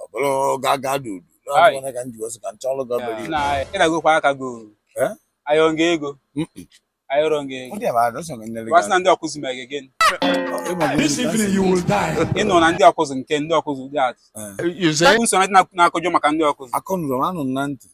ọ bụrụ ga ga dị udu Aye. n'ọbụla ka m ji wesị ka m chọrọ gị obere na ị na-agụkwa aka gị o. Eh? ayọ m gị ego ayọrọ m gị ego ndị ma adọsọ gị nlere wa sị na ndị Awkuzu ma gị gịnị This evening you will die. ị nọ na ndị Awkuzu nke ndị Awkuzu ụdị atụ You say? nso na ndị na-akọjọ maka ndị Awkuzu akọnụrụ m anụ m na ntị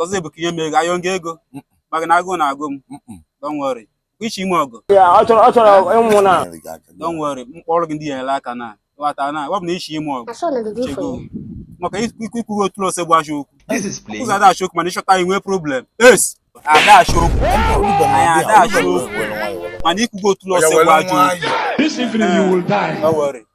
Ọzọ bụ ka i nye m ego ayọ m gị ego maka na agụụ na-agụ m don't worry ị sị ime ọgwụ ọ chọrọ ọ chọrọ ịnwụ na don't worry m kpọrọ gị ndị ya ele aka na ghọta na ọ bụ na ị sị ime ọgwụ chego maka ikwuru otu ose bụ achọ okwu Awkuzu ada achọ okwu mana ị chọta i nwee problem yes ada achọ okwu anyị ada achọ okwu mana ikwugo otu ose bụ achọ okwu don't worry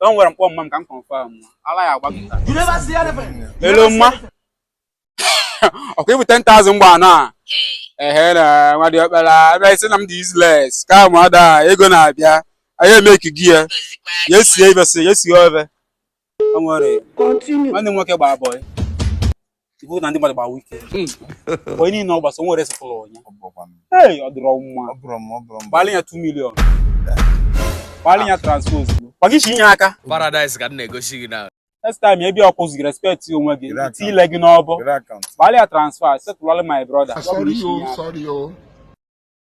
Don't worry, m kpọọ mma m ka m confirm. Ala ya-agba gị. You never see anything. Hello, mma. Okay, with 10,000 gbanaa. Ehe na nwa diọkpala ebe ị sị na m dị useless ka ma ada ego na-abịa anyị emeki gị ya ya esie ibe si ya esie ofe o nwere nwanne m nwoke gbaa boy ibu na ndị mmadụ gbawa ike hmm. boy niile ọ gbasa nwere sịpụrụ onye ee ọ dịrọ mma gbalị ya 2 million gbalị ya transfer ozugbo gbaga isi inye aka paradise ka m na-egosi gị na next time ebe Awkuzu respect onwe gị i tii ile gị n'ọbọ gbalị ya transfer settle-ọlị my brother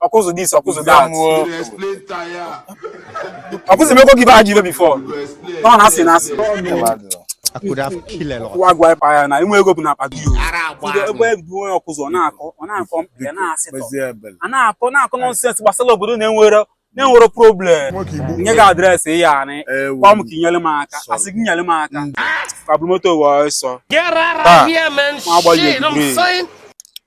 Awkuzu this Awkuzu that Awkuzu mekwa gị be ha ji ibe before nọ na asị na asị I could have killed a lot. Wa gwa pa ya na inwe ego bụ na akpa gị o. Ndị ebe bụ onye Awkuzu ọ na-akọ ọ na-akọ mkpịa na-asịtọ. A na-akọ na-akọ nonsense gbasara obodo na-enwere na-enwere problem. Nye gị address ihe anị. Gwa m ka inyere m aka. Asị gị nyere m aka. Ka buru moto wee ọsọ. Taa, nwa agbalị eburu